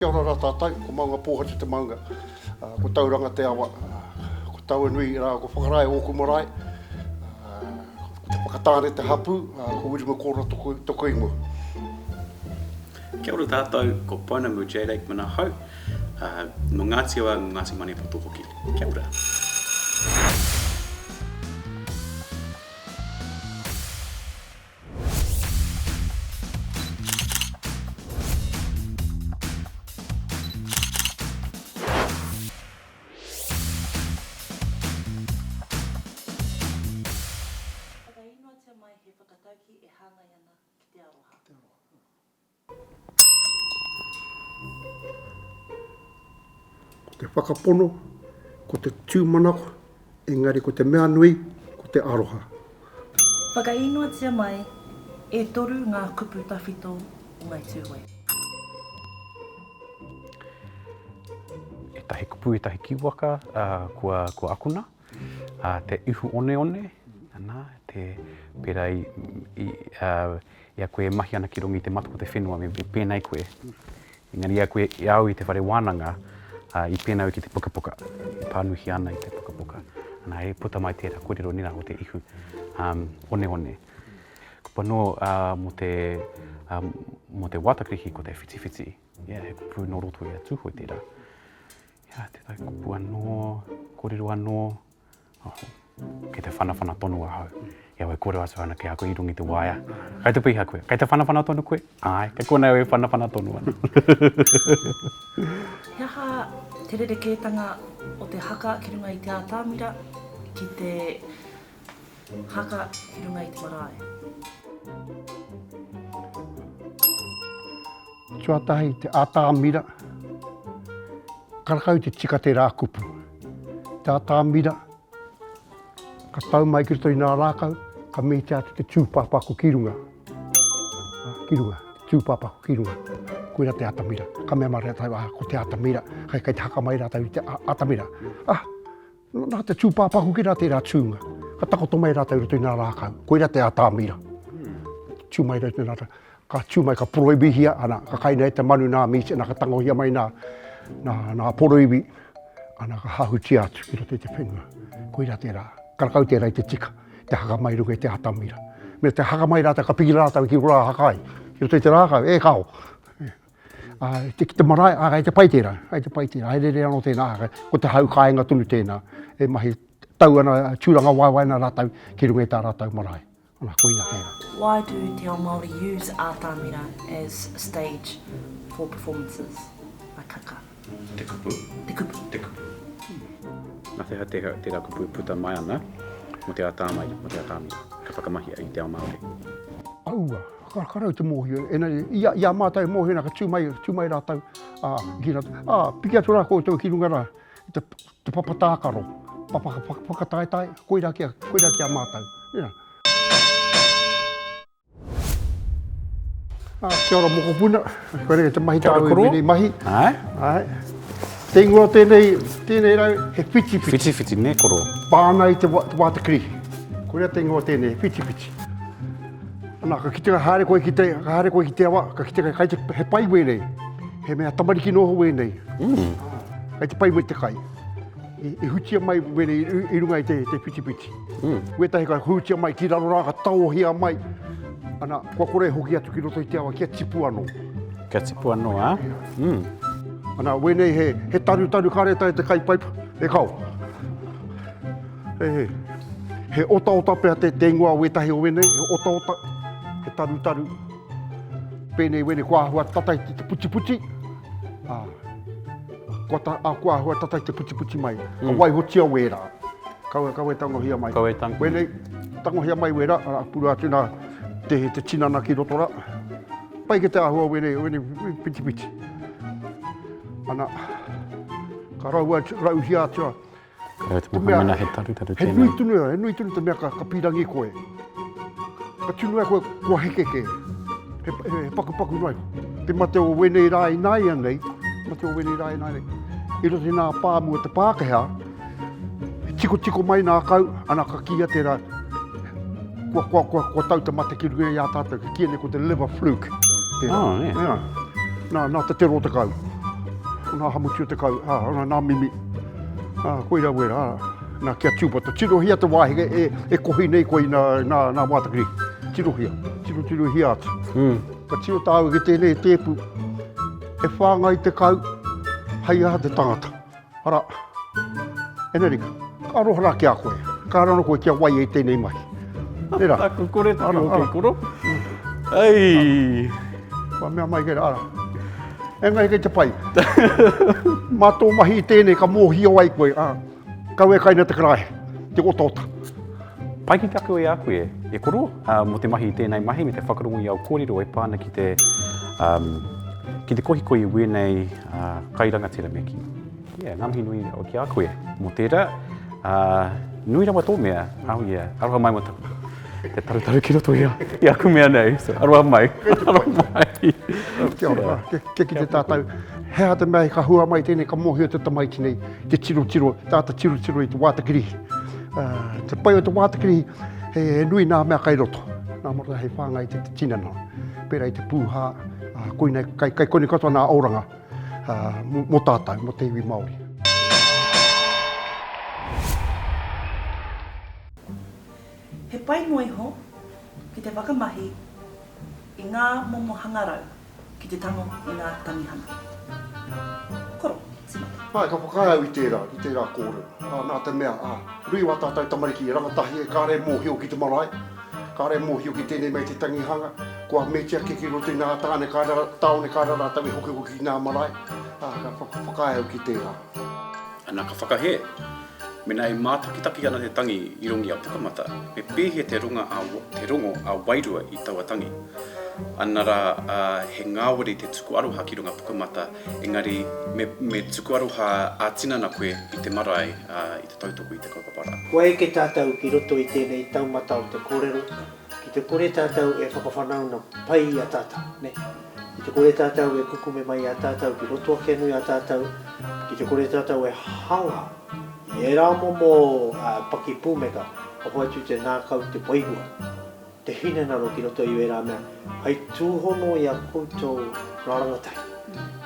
Kia ora ra tatou, ko Maunga Pōhatu te maunga, ko Tauranga te awa, ko Tauanui ra ko Whakarae ōku marae, ko Te Whakatāne te hapū, ko Wiremu Kōra toku, toku ingoa. Kia ora tatou, ko Pounamu Jade Aikman ahau, no Ngāti Awa, no Ngāti Maniapoto hoki. Kia ora. Whakainoatia mai he whakataukī e hāngai ana ki te aroha. Ko te whakapono, ko te tūmanako, engari ko te mea nui, ko te aroha. Whakainoatia mai, e toru ngā kupu tawhito o Ngāi Tūhoe. Ētahi kupu, ētahi kīwaka kua akona. Ā, te ihu oneone, nā, te, pērā i, i, ā, i a koe e mahi ana ki runga i te matoko o te whenua, me pēnei koe. Engari i a koe, i a au i te whare wānanga, ā, i pēnei au ki te pukapuka, i pānuhia ana i te pukapuka. Nā, e puta mai tērā kōrero nei rā o te ihu, ā, oneone. Kupu anō, ā, mō te, ā, mō te wātakirihi ko te whitiwhiti, ia he kupu nō roto i a Tūhoe tērā. Ia te taikupu anō, kōrero anō, oho, kei te whanawhana tonu ahau, i a koe e kōrero atu ana ki a koe i runga i te waea, kai te piha koe, kai te whanawhana tonu koe? Āe, kei konei au e whanawhana tonu ana. He aha te rerekētanga o te haka ki runga i te atamira ki te Haka ki runga i te marae. Tuatahi te atamira. Karakau te tika te rā kupu. Te atamira. Ka tau mai ki roto i nā rākau. Ka mīte atu te tūpāpaku ki runga. Ah, ki runga. Tūpāpaku ki runga. Koira te atamira. Ka mea mara rātau, ah, ko te atamira. Kai, kai te haka mai rātau i te atamira. Ah, Nā te tūpāpā hoki rā tērā tūnga. Ka takoto mai rātou i roto i ngā rākau. Koirā te atamira. Tū mai rātou nā rātou. Ka tū mai, ka poroibihia, ana, ka kaina e te manu nā mīti, ana, ka tangohia mai nā, nā, nā poroibi, ana, ka hahutia atu ki roto i te whenua. Koirā tērā. Karakau tērā i te tika, te haka mai runga i te atamira. Me te haka mai rātou, ka piki rātou ki rā haka ai, ki roto i te rākau, e kao. Ki te marae, ā, kei te pai tērā, kei te pai tērā, haereere anō tēnā, ā, ko te hau kāinga tonu tēnā, e mahi tau ana, tūrangawaewae ana rātou ki runga i tā rātou marae. Anā, koina tērā. Why do Te Ao Māori use Ātamira as stage for performances? Akaka. Te kupu. Te kupu. Te kupu. Na wheha te, tera kupu puta mai ana mo te atamai, mo te atamira, ka whakamahia i te ao Maori. Aua, kakarau te mohio, ena i, i a matou e mohio na ka tu mai, tu mai ratou, a, ki ratou, a, piki atu ra koutou ki runga ra, te, te papa takaro, papa whakataetae, koira ki a, koira ki a matou. Yeah. Ah, kia ora mokopuna. Koe rei te mahi tāu e mene mahi. Ai. Ai. Te ingoa tēnei, tēnei rau, he whiti whiti. Whiti whiti, ne koro. Pāna i te, wa, te wāta kri. Koe rei te ingoa tēnei, whiti whiti. Ana, ka kite ka haere koe ki te, ka haere koe ki te awa, ka kite ka kai te, he pai wēnei. He mea tamariki noho wēnei. Mm. Kai te pai me te kai. I, i hutia mai wēnei i, i runga i te, te whiti whiti. Wētahi ka hūtia mai ki raro rā, ka taohia mai, ana, kua kore e hoki atu ki roto i te awa, kia tipu anō. Kia tipu anō, ā. Ana, wēnei he, he tarutaru ka reta e te kaipaipa, e kao. He, he otaota pea te, te ingoa o wētahi o wēnei, he otaota, he tarutaru, pēnei wēnei kua āhua tata i te putiputi, ā. Kua ta, a, kua ahua tata i te putiputi mai. Ka waihotia wera. Kaua, kaua e tangohia mai. Kaua e tangohia. Wenei, tangohia mai wera, ara, purua atu na te, te tinana ki roto ra. Pai ke te ahua o wenei, wenei pitipiti. Ana, ka raua, rauhia atua. He nui tonu, he nui tonu te mea ka pīrangi koe. Ka tunu ai koe kua heke kē. He pakupaku noa iho. Te mate o wēnei rā ināianei, te mate o wēnei rā ināianei, i roto i nā pāmu o te Pākehā, he tikotiko mai nā kau, ana ka kīia tērā, kua tau te mate ki runga i a tātou, ka kīia nei ko te liver fluke. Oh, yeah. Yeah. Nā, nā te tero o te kau. Nā hamuti o te kau, nā mimi. Ā, koirā wērā, nā, kia tūpata. Tirohia te wā heke e, e kohi nei koe i nā, nā, nā Mātakiri. Tirohia, tirotirohia atu. Mm. Ka tiro tāu ki tēnei tēpu, e whāngai te kau, hei aha te tangata. Arā, Enerica, ka aroha rā ki a koe. Ka raro koe kia wai e tēnei mahi. Nē rā. Aku kore taku hoki koro. Ei! Kua mea mai kē rā, arā. Engari kei te pai. Mā tō mahi i tēnei ka mōhio ai koe, ā, kau e kai nei te karaehe, te otaota. Pai ki te ako i a koe, e koro, mō te mahi i tēnei mahi me te whakarongo i au kōrero e pā ana ki te, ki te kohikohi i wēnei kai rangatira me kī. Yeah, nga mihi nui rawa ki a koe mo tera. Uh, nui rawa to mea. Oh yeah, aroha mai mo taku. Te tarutaru ki roto ia, i aku mea nei. So, aroha mai. aroha mai. Kia ora, yeah. kia ki te tātou. He aha te mea ka hua mai tēnei, ka mohio te tamaiti nei, te tiro tiro, tāta tiro tiro i te wātakiri. Uh, ah, te pai o te wātakiri, he, he nui nā mea kai roto. Nā mora hei whāngai te, te tinana. Pērā i te pūhā, uh, koinei, kai, kai koinei katoa nā auranga. mō tātou, mō te iwi Māori. He pai noa iho ki te whakamahi i ngā momo hangarau ki te tango i ngā tangihanga. Koro, timate. Āe, ka whakaae au i tērā, i tērā kōrero. Ā, nā te mea, ā, nui wā tātou tamariki i rangatahi e kāre mōhio ki te marae, kāre mōhio ki tēnei mea i te tangihanga, kua metia kē ki roto i ngā tāne kāre, tāone kāre rātou e hokihoki ki ngā marae, ā, ka whakaae au ki tērā. Ana ka whakahē, Mēnā e mātakitaki ana te tangi i rongi a Pukamata, me pēhea te ronga a, te rongo a wairua i taua tangi? Ana rā, ā, he ngāwari te tuku aroha ki runga Pukamata, Engari, me, me tuku aroha ā-tinana koe i te marae, ā, i te tautoko i te kaupapa rā. Kua eke tātou ki roto i tēnei taumata o te kōrero, ki te kore tātou e whakawhanaunga pai i a tātou, nē? Ki te kore tātou e kukume mai i a tātou ki roto ake anō i a tātou, ki te kore tātou e hanga i ērā momo, ā, pakipūmeka, ka hoatu te ngākau, te wairua. te hinengaro ki roto i ērā mea hai tūhono i a koutou ngā rangatahi,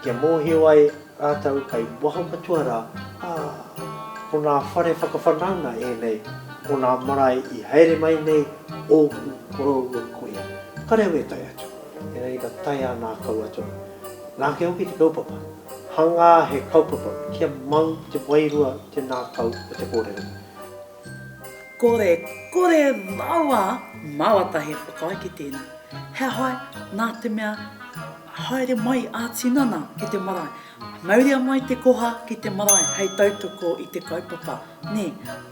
kia mōhio ai rātou kai waho katoa rā, ā, ko ngā whare whakawhanaunga ēnei o ngā marae i haere mai nei ōku koroua kuia. Ka reo e tae atu, engari ka tae ā nā kaua tonu. Nāke hoki te kaupapa, hangā he kaupapa kia mau te wairua te nā kau o te kōrero. Kore, kore rawa! Mawata he whakaae ki tēnā. He hae, nā te mea, haere mai ā tinana ki te marae. Mauria mai te koha ki te marae hei tautoko i te kaupapa. Nē,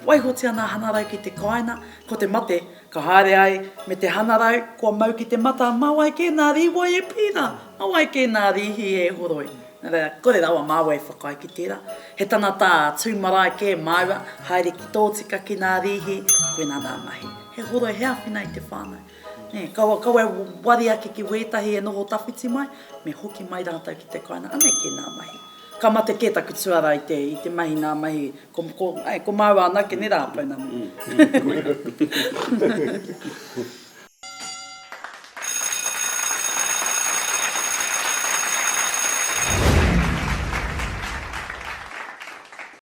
waihotia nā Hanarau ki te kāinga, ko te mate, Ka haere ai me te hanarau, kua mau ki te mata, mā wai kē nā rīwai e pīna, mā wai kē nā rīhi e horoi. Nā reira, kore rawa māua i whakaae ki tērā. He tangatā tū marae kē māua, haere ki tō tika ki nā rīhi, koinā nā mahi. He horoi, he āwhina i te whānau. Nē, kaua, kaua e wari ake ki wētahi e noho tawhiti mai, me hoki mai rātou ki te kāinga, anei kē nā mahi. Ka mate kē taku tuarā i te, i te mahi nā mahi, Ko, ai, ko māua anake ne rā, pounamu.